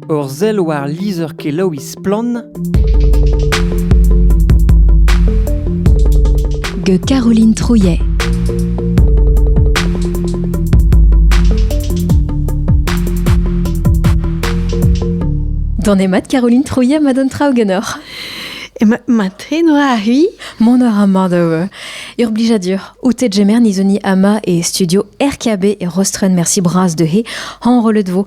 Ur sell war lizher-kelaouiñ Splann! gant Caroline Trouillet. Dans les maths, Caroline Trouillet madame Traogenor. Maten oa arri Mon or amadav. Urblijadur. Outet jemer nizoni ama e studio RKB e Rostren merci bras de he han rolet vo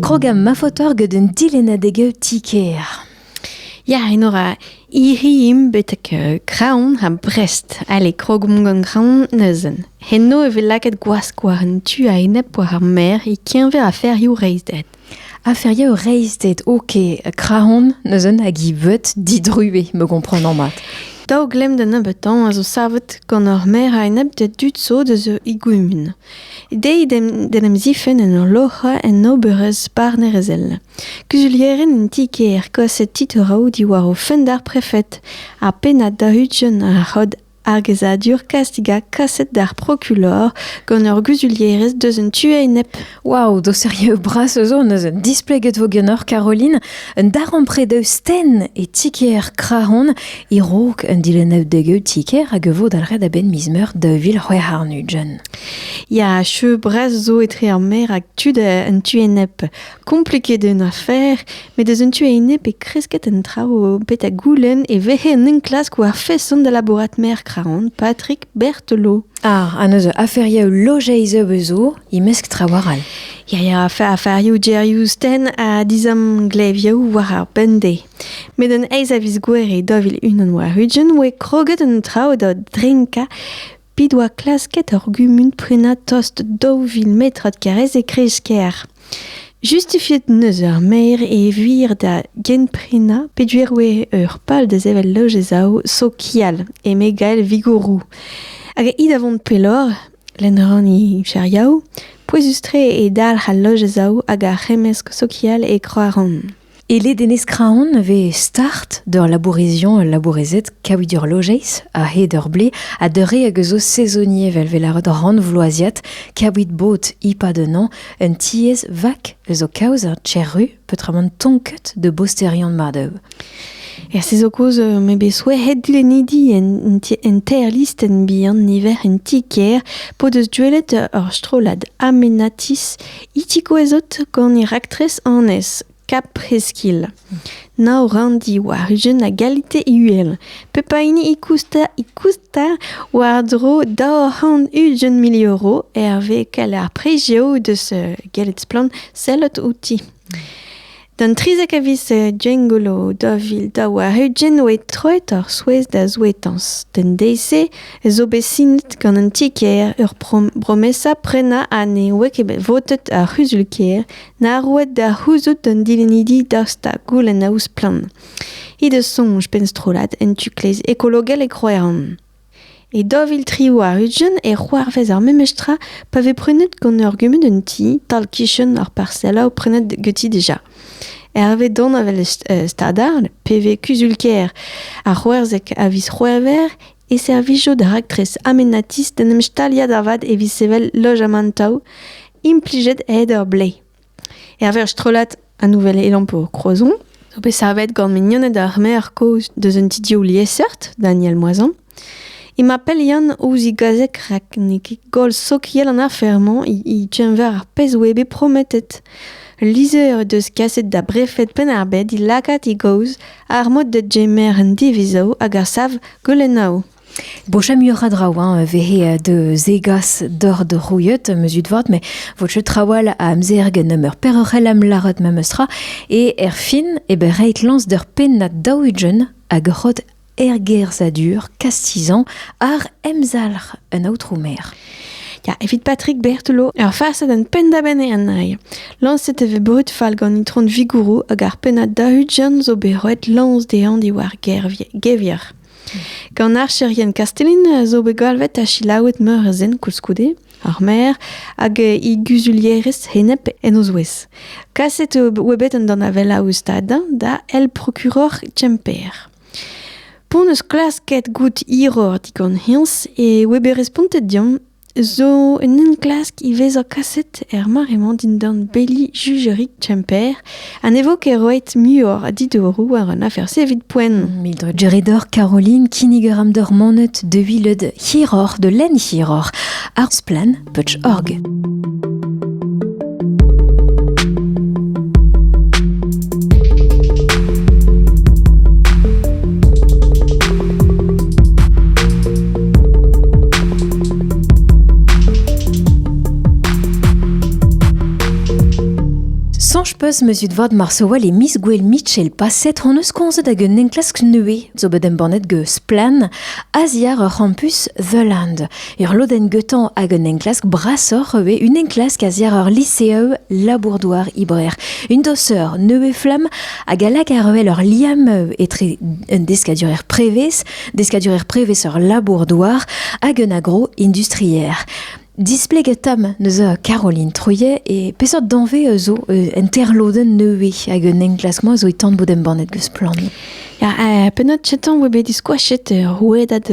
Krogam ma fotor gant un dilena de gaout tikeer. Ja, enora iriim betek uh, kraon ha Brest. Ale, krogom gant kraon neuzen. Heno e vez lakaet gwask war an tu a-enep war ar mer e keñver aferioù reizhded. Aferioù reizhded, ok, krahon, neuze hag he veud didruez, me gomprenan mat. Daou glemm da nebeutañ a zo savet gant ur maer a-enep da dud zo da zo he gumun. Dezhi d'en em zifenn en ur loc'hañ en oberezh barnerezhel. Kuzulierien en ti-kêr kaset titouroù diwar o fenn d'ar prefed ha pennad da ugent ar c'hod Ar gezadur kastig ha kaset d'ar prokulor gant ur guzulierez deus un tu a-enep. Waouh, doserieu bras eus zo neus un displeget vo ganeoc'h Caroline, un darempred eus sten e tiker krahon e rok un dilennev degeu tiker hag vo dalret a-benn miz meur daou vil c'hwec'h arnujen. Ya, cheu bras zo etre ar mer hag tud un tu enep. Kompleket eo an afer, met eus un tu enep e kresket an traoù bet a goulenn e vehe un enklask war feson da labourat merc'h-raon Patrick Berthelot. Ar ha neuze aferioù lojeiz zo, imesk trawar all. Ya, ya, aferioù gerioù sten ha dizamglevioù war ar bende. Met un aez a viz gwer e dovil unan war ugen oe kroget un traoù da drinka P'he doa klasket ar gumun prenañ tost daou vil metrad karrez e kreiz-kêr. Justifiet 'neus ar maer e vir da genprenañ peduer oa ur pal da sevel loj e zaou sokial, eme Gael Vigouroù. Hag hi da vont pelloc'h, lenn a ran he chariaoù. Pouezus-tre eo dalc'h al loj e zaou hag ar c'hemmesk sokial e Kroaran. E ledenez Kraon e vez start d'ur labourizion ul labourezed kaouit ur lojeiz a-hed ur blez ha d'ur re hag eus o saezonier vel vez lâret rannvloaziat kaouit bod e-pad un hañv un tiez vak eus o kaoz er Cherru peotramant tonket da bosterion mat-eu. Er saezon kozh euh, m'eo bet souezhet dilennidi en, en teir listenn bihan niver en ti-kêr p'o deus gwelet ur strollad Amenatis Itigouezot gant he raktres annez, Kap Heskil. Nav ranndi war ugent a galite uhel. Pep a hini e kousta e kousta war-dro daou c'hant ugent mil euro hervez kalar prejeo deus gallet splann sellet outi. D'an trizek a viz Gwengolo daou vil daou ha ugent oa troet ar souezh da souetañs. D'an deiz-se ez zo bet sinet gant an ti-kêr ur bromesa prenañ ha ne oa ket bet votet ar c'huzul-kêr na roet da c'houzout d'an dilennidi daoust da goulennaoù splann. He deus soñj penn-strollad en tu-kleiz ekologel e Roeran. E daou vil tri warn-ugent e c'hoarvez ar memes tra pa vez prenet gant ur gumun un ti, tal-kichen ar parselaou prenet ganti dija. Hervez danevell Stadal, pe vez kuzul-kêr ar C'houerzeg a viz C'hwevrer, e servijo da raktres amenatis d'en em staliañ da vat evit sevel lojamantoù implijet a-hed ur blez. Hervez strollad a nouvel elampor Kroazon zo bet savet gant mignoned ar maer kozh deus un ti-div liesseurt, Daniel Moisan. Emañ pell Yann ouzh e gazeg rak n'eo ket goll sokial an afer-mañ e keñver ar pezh oa bet prometet. Lizher he deus kaset da brefed Penn-ar-Bed he lakaat e gaoz ar mod da gemer an divizoù hag a sav goulennoù. Bocha muioc'h a draoù hein, vehe da zegas doc'h da roiet, am eus ut vat, met vo teu trawal a amzer gen nemeur perroc'hell am lâret memes tra, e erfin e ber reiñ lañs d'ur pennad daou ugent hag ur c'hod ergerzhadur kastizañ àr emzalc'h un aotrou maer. Ya, evit Patrick Berthelot, ur farsad an penn-da-benn eo an ail. Lañset e vez brud fall gant Itron Vigouroù hag ar pennad daou ugent zo bet roet lañs dezhañ diwar gevier. Gant archerien Kastellin zo bet galvet ha silaouet meur a zen koulskoude, ar maer hag he guzulierez henep en o zouez. Kaset oa bet an danavella o stad da el procuror Kemper. P'on eus klasket goût hiror digant hins e oa bet respontet diomp Zo un enklask ivez zo kaset er mare-mañ dindan beli Jugerig Kemper ha ne vo ket roet muioc'h a didoroù war an afer-se evit poent. Mildred Geredor, Caroline, kinnigaram d'ur manet dewilet hiroc'h, de lenn hiroc'h, ar splann.org. peus meuzut vat marsoval e miz gouel Mitchell paset hon eus komzet hag un enklask neue zo bet embannet geus Splen, aziar ur c'hampus The Land. Ur lodenn gantañ hag un enklask brasoc'h ivez, un enklask a-ziàr ur liseeu labour-douar Ibrer. Une dosseur neuve-flamme hag a lak àr-wel ur liamm etre un deskadurezh prevez, deskadurezh prevez ur labour-douar hag un agro-industrier. Displeget tam neuze Caroline Trouillet e peseurt danvez zo un interlodenn nevez hag un enklask-mañ zo e tan bout embannet geus Splann. Pennad kentañ oa bet diskoachet rouedad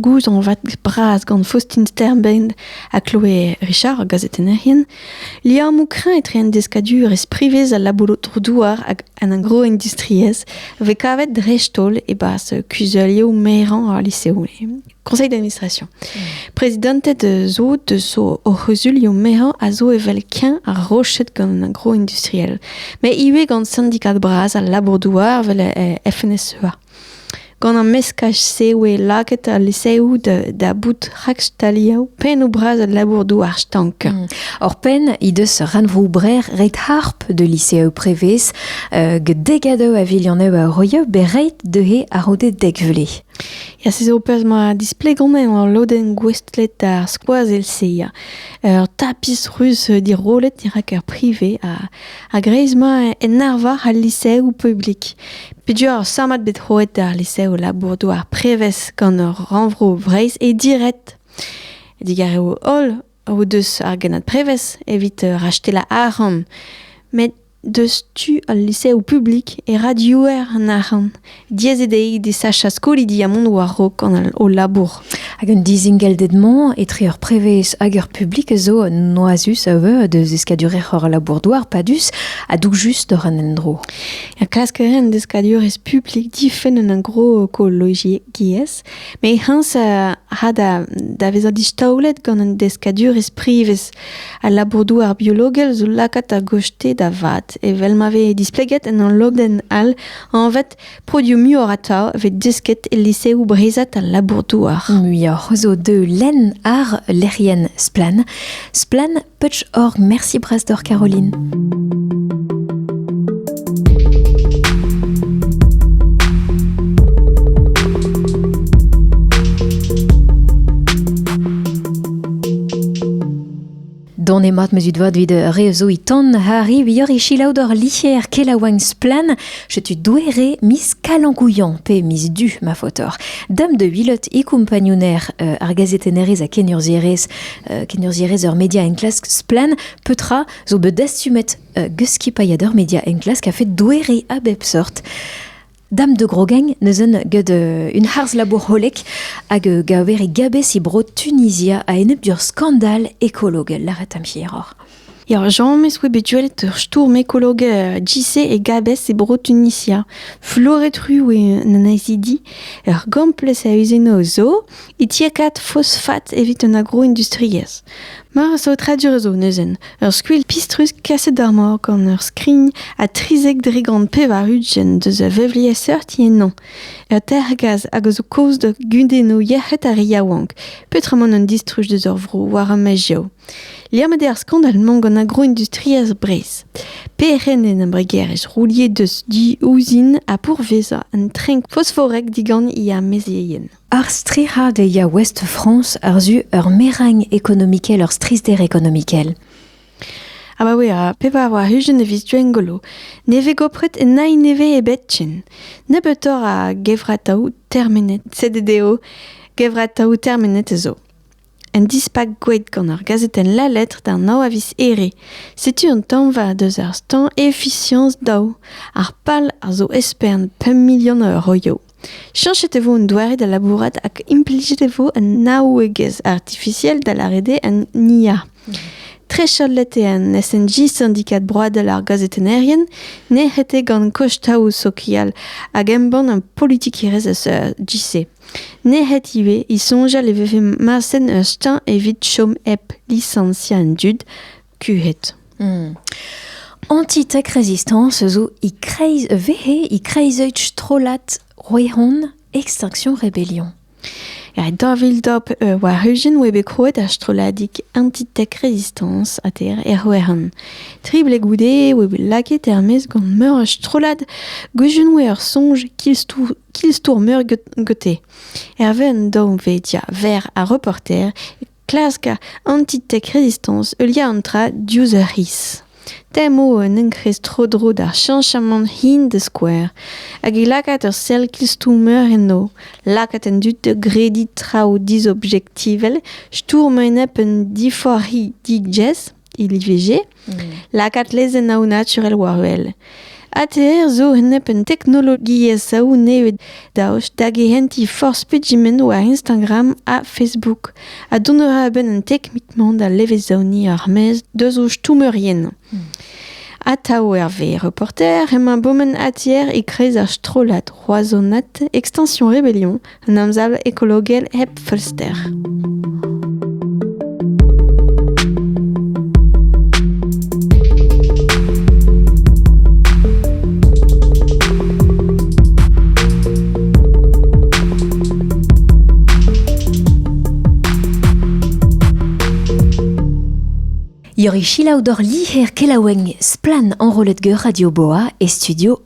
gouzañvad bras gant Faustin Sternbein ha Chloé Richard, gazetennerien, liammoù kreñv etre an deskadurezh privez, al labour-douar hag an agro-industriezh a vez kavet dreist-holl e-barzh kuzulioù merañ al liseoù. Conseil d'administration. Prezidanted zo de so o c'huzulioù mezhañ a zo evel keñ ha roched gant un agro industriel, met ivez gant syndikad bras al labour-douar evel FNSEA. Gant an meskaj-se eo lakaet al liseoù da bout rakstaliañ pennoù-bras al labour-douar stank. Hmm. Or-penn he deus ranvroù-brer ret harp de liseoù prevez, uh, get degadoù a vilianneù a roio bereit d'he a rode dek vlez. Ya, se zo ur perzh ma displegomp eo al lodenn gouestlet d'ar skoazell-se. Ya. Ur tapis ruz dirollet dirak ur prive ha a-greiz-mañ en arvar al liseoù publik. Peduañ ur sammad bet roet d'ar liseoù labour-douar prevez gant ur rannvro Breizh e diret. Digar eo holl o deus ar gennad prevez evit rachetellañ arc'hant. Met Deus tu al liseoù publik e Radio-Iwerzhon arc'hant. Diaes eo dezhi desachañ skolidi ha mont war-raok gant o labour. Hag un dizingellded-mañ etre ur prevez hag ur publik zo noazus a veu da zeskadurezh hor labour-douar padus ha doug just oc'h an endro. Ja, klask a ren deskadurezh publik difenn un agrokologiezh, met heñs a ra da, da vezañ distaolet gant un deskadurezh privez. Al labour-douar biologel zo lakaat a-gostez da vat, evel ma vez displeget en ul lodenn all anvet produioù muioc'h atav vez desket e liseoù breizhat al labour-douar. Muioc'h zo deu lenn ar lec'hienn Splann. Splann Putsch.org. Merci Brasdor Caroline. Dont eo mat ma zud vat evit re zo e ton harri vioc'h e chilaou d'hor licher kelaouagn splann setu douere miz kalankouian pe miz du ma faotoc'h. Dam de vilot e kompagnouner euh, ar gazetennerez a kenurzierez euh, kenurzierez ur media en klask splann petra zo bet dastumet euh, geskipailhadeur media en klask a fait douere a bep sort. Dame de Grogeng, neuzen, gant euh, un harz-labour hollek hag euh, gaver e gabez e bro Tunizia a-enep d'ur skandal ekologel. Laret am hieroc'h. Eo, Jean meus oe bet gwelet ur stourm ekolog uh, JC e gabez e bro Tunisia. Floret ru eo an anezidi. Ur gamplez a eus eno zo, e tiakat fosfat evit un agro-industriezh. Meur a saotradur a zo neuzen. Ur skuilh pistrus kaset d'ar mor gant ur skrign ha trizek dre gant pevar ugent deus a vevliesseurti ennañ. Ur tergaz hag a zo kozh da gudennoù yec'hed ar re yaouank, peotramant un distruj deus ur vro war ar maezioù. Liammet eo ar skandal-mañ gant agroindustriezh Breizh. Perc'henn en embregerezh rouliet deus du ouzin ha pourvezañ un trenk fosforek digant he amezeien. Ar stric'had e ya Ouest-France àr-zu ur meragn ekonomikel, ur strizhder ekonomikel. Ha ma wera, pevar war-hugen evit Gwengolo, ne vez gopret nain nevez ebet ken. Nebeutoc'h a gevrataoù termenet, sed eo gevrataoù termenet a zo. Un dispak gweet gant ur gazetenn La Lettre d'ar nav a viz Here. Setu un tañva deus ar stañ efiziañs daou. Ar pal a zo espern pemp milion a euroio. Chañchet e vo un doare da labourat hag implijet e vo un naouegezh artifisiel da lâret eo un IA. Trechalet eo an SNJ, Syndicat Broadel ar gazetennerien, nec'het eo gant kostauoù sokial hag embann un politikerezh eus JC. Nec'het ivez he soñjal e vefe marset ur steuñv evit chom hep lisañsiañ an dud kuhet. Anti-tech Resistance zo e-kreiz vehe e-kreiz-euch strollad Roehon Extinction Rebellion. Ja, dañvildop euh, war hujenn oa bet krouet ar strolladig Anti-Tech Resistance ha ter er Roehon. Tri ble goude oa bet lakaet er-maez gant meur a strollad gujenn oa ur soñj kilstoù Ki-stourmer gete. Hervez an dañvedia verr ar reporter e klask anti-tech-resistance heuliañ an tra diouzh ur c'hiz. Tem eo un enkrez tro-dro d'ar cheñchamant hin da skouer, hag e lakaat ur sell ki-stourmer enno, lakaat an dud da grediñ traoù disobjektivel, stourm a-enep un diforc'hi digez, il IVG, mm. lakaat lezenn ao naturel war-wel. ATR zo hennep un teknologiezh aoù neved daoust da gehentiñ forzh pedimentoù a Instagram ha Facebook, a donera a-benn un teknik-mañ da levezaoniñ ar mez deus o stummerien. Mm. Atav Hervé, reporter, emañ bomen ATR e-kreiz ar strollad Roazhonat, extension Rébellion, Un emsav ekologel hep feulster. Iori chilaou dor liher kelaouenn splan enrollet ge Radio Boa e studio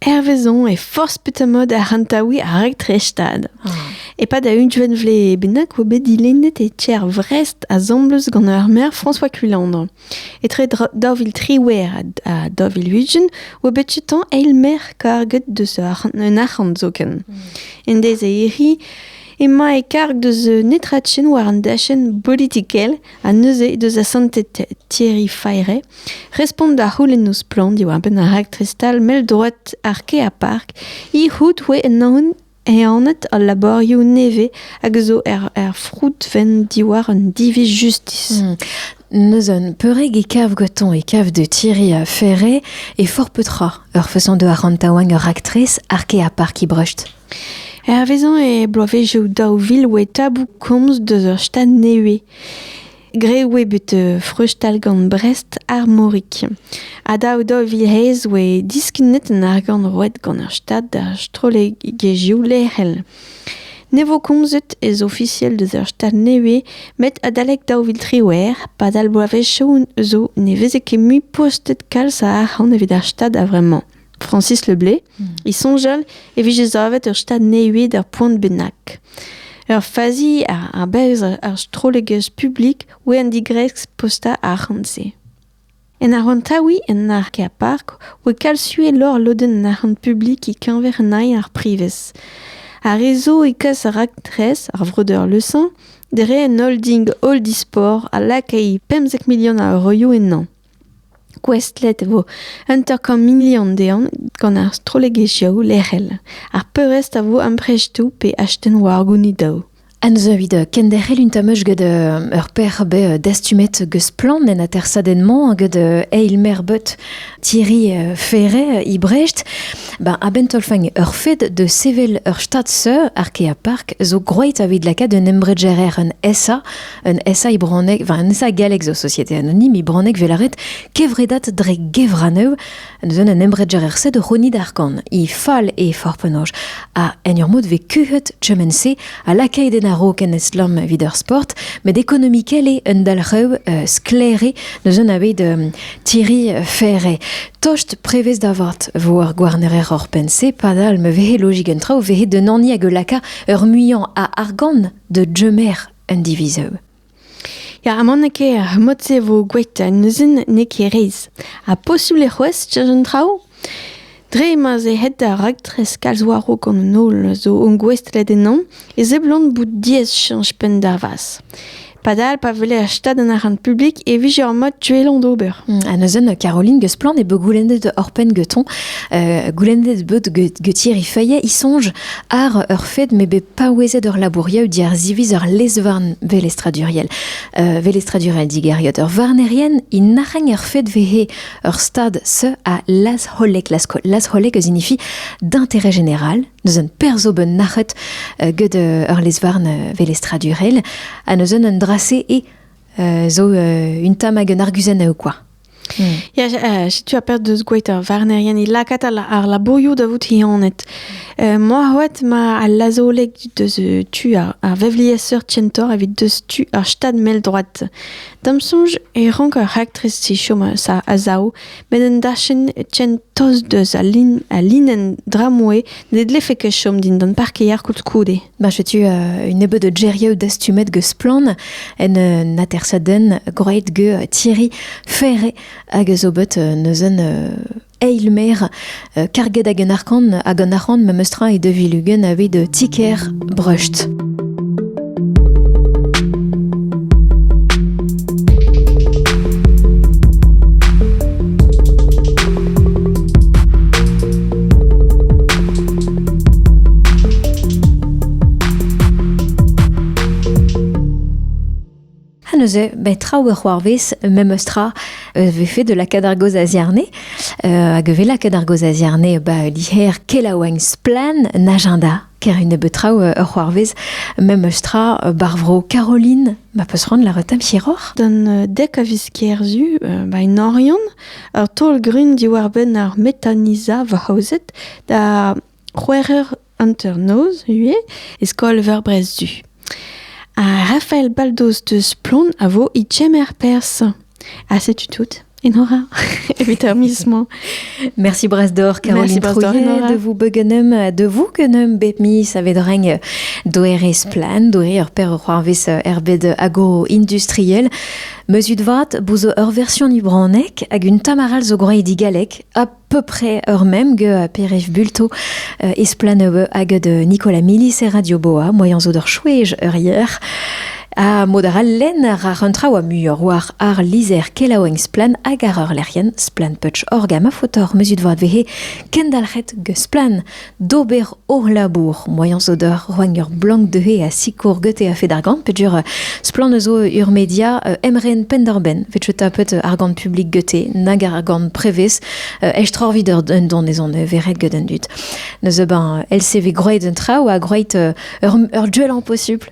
Hervez on eo forzh petra-mod ar c'hantaouiñ ar raktres-stad. E-pad a unvent vlez bennak oa bet dilennet e tier Vrest asambles gant ar maer François Culandre. Etre daou vil triwec'h ha daou vil ugent oa bet tutañ eil maer karget deus un arc'hant zoken. En deiz a erri emañ e karg deus netra ken war an dachenn bolitikel ha neuze he deus asantet Thierry Fayret respont da c'houlenn o splann diwar-benn ar raktres-stal mell-droad ar Keapark he-c'hoût oa ehanet al labourioù nevez hag a zo er froudvenn diwar un diviz justis. Hmm. Neus un peureg e kav goton e kav de Thierry a Ferret e fort petra ur façon de arrantaouan ur actrice ar Keapark i brecht. Hervezañ e bloavezioù daou vil e oe taboù komz deus ur stad nevez. Graet e oe bet freuzstal gant Brest ar Morig. Ha daou daou vil eizh e oe diskennet an argant roet gant ur stad d'ar strollegezhioù lec'hel. Ne vo komzet ez ofisiel deus ur stad nevez met adalek daou vil triwec'h, padal bloavezioù zo ne veze ket mui postet kalz a arc'hant evit ar stad a-vremañ. Francis Le Blé, hmm. e soñjal e vije savet ur stad nevez d'ar poent bennak. Ur fazi ar berzh ar strollegezh publik oa an digresk postañ arc'hant-se. En arontaoui en ark er park oa kalsue lor lodenn an arc'hant publik e-keñver nain ar privez. Ar rezo e kas ar raktres, ar vreudeur Lesan, dre un holding Holdi Sport a lakae 50 milion a euroioù ennañ. Gouestlet e vo un tamm milion dezhañ gant ar strollegezhioù lec'hel. Ar peurrest a vo amprestoù pe astenn war gounidou. Anzeu evit kenderc'hel un tamm gant ur perc'h bet dastumet gant splann en atersadenn-mañ gant eil maer but Thierry Ferret e Brest. Ba a-benn taolfein ur fed da sevel ur stad seur ar Kea Park zo gwraet evit lakaat un embregerezh en ESA un essai bronneg, enfin un essai gallek zo société anonyme, e bronneg vel aret kevredat dre gevranev, neuzen un embreger er se de Roni d'Arkan, e fall e forpenoch, a en ur mod ve kuhet tchemense a lakay den arok en estlam vid ur sport, met ekonomikel eo un dalrev uh, sklaere neuzen abed um, tiri fere. Tost prevez da vat vo ar gouarnerer hor pense, padal me vehe logik un traoù vehe de nani hag laka ur muian a argan de djemer un divizoù. Ya, ha n'eo ket ar mod-se e vo gwelet neuzen n'eo ket rez. Ha posubl e c'hoazh tir un traoù? Dre ma ze het da raktres kalz waro gant an holl zo ongouestlet ennañ, e seblant bout diaes chanch penn da vas. Padal, pa veler stad an arant publik e vije ur mod tuellañ d'ober. Mm, ha neuzen, Caroline Gesplan e be goulennet horpen geton, euh, goulennet bod getier i feuillet, i songe ar ur fed me be paouezet ur labouriañ, diar ziviz ur lezvarn velestraduriel, uh, velestradurel digeriot. Ur varnerien in nac'hañ ur fed vehe ur stad se a lazholek, lazholek eus inifi d'intérêt général, neus un perzo ben nac'het uh, get uh, ur lezvarn uh, velestradurel, ha neus un un drase e uh, zo uh, un tam hag un arguzenn ou quoi. Hmm. Ya, uh, setu a perz deus gouet ar varnerien e lakat ar labourioù da vout hianet. Uh, moa hoet ma al lazoleg deus uh, tu ar, ar vevlieseur tientor evit deus tu ar stad mel droat. Dam soñj e rank ar raktres si chom sa a zaou, met un dachenn tien toz deus a, lin, a linenn dramoué ne dlefe ket chom dindan parkeier koulskoude. Ba setu euh, un nebeud geriou dastumet geus Splann en euh, atersaden groeit ge euh, Thierry Ferre hag zo bet neuzen eil mer karget hag un arkan hag an arc'hant memestra e de vilugen aveit tiker Brust. neuze, ben, traoù a c'hoarvez, memes tra, euh, vefe de la cadargos azierne. Euh, hag ve la cadargos azierne, ba, liher kelaouagn splan en agenda ker une betraou euh, c'hoarvez memes tra euh, barvro Caroline ma peus rand la retam chiroc'h Dan euh, dek a vis kerzu ba un orion ur taol grun diwar benn ar metaniza va haozet da c'hwec'h eur hanternoz ivez e skol-veur Brest-Du. Rafael Baldos deus Plon a vo e kemer perzh. Ha setu tout. Enora, evit ar miz mañ. Merci Brasdor, Caroline Trouillet, de vous begenem, de vous genem bep miz a vedreng doerez plan, doe ur per c'hoarvez erbed agro-industriel. Meuzut vat, bouzo ur version ibronek hag un tamaral zo groa digalek, hop, peu ur mem ge Peref Bulto euh, esplaneu hag de Nicolas Milis e Radio Boa, moyen zo d'ur chouej ur yer. A mod ar len ra un tra oa muior war ar lizer kelaoeng splan hag ar ur lerien splan putsch orgama fotor meuzut vad vehe kendalc'het ge splan d'ober o labour. Moaien zo d'ur roagn ur blank deuhe a sikour gete a-fed ar gant, peger splann eus o ur media emren penn-dor-benn. Vet cheta pet ar gant publik gete, nag ar gant prevez, estro vid ur dondon ez on veret get an dud. Neus ben LCV groeit un traoù ha groeit ur duell en posupl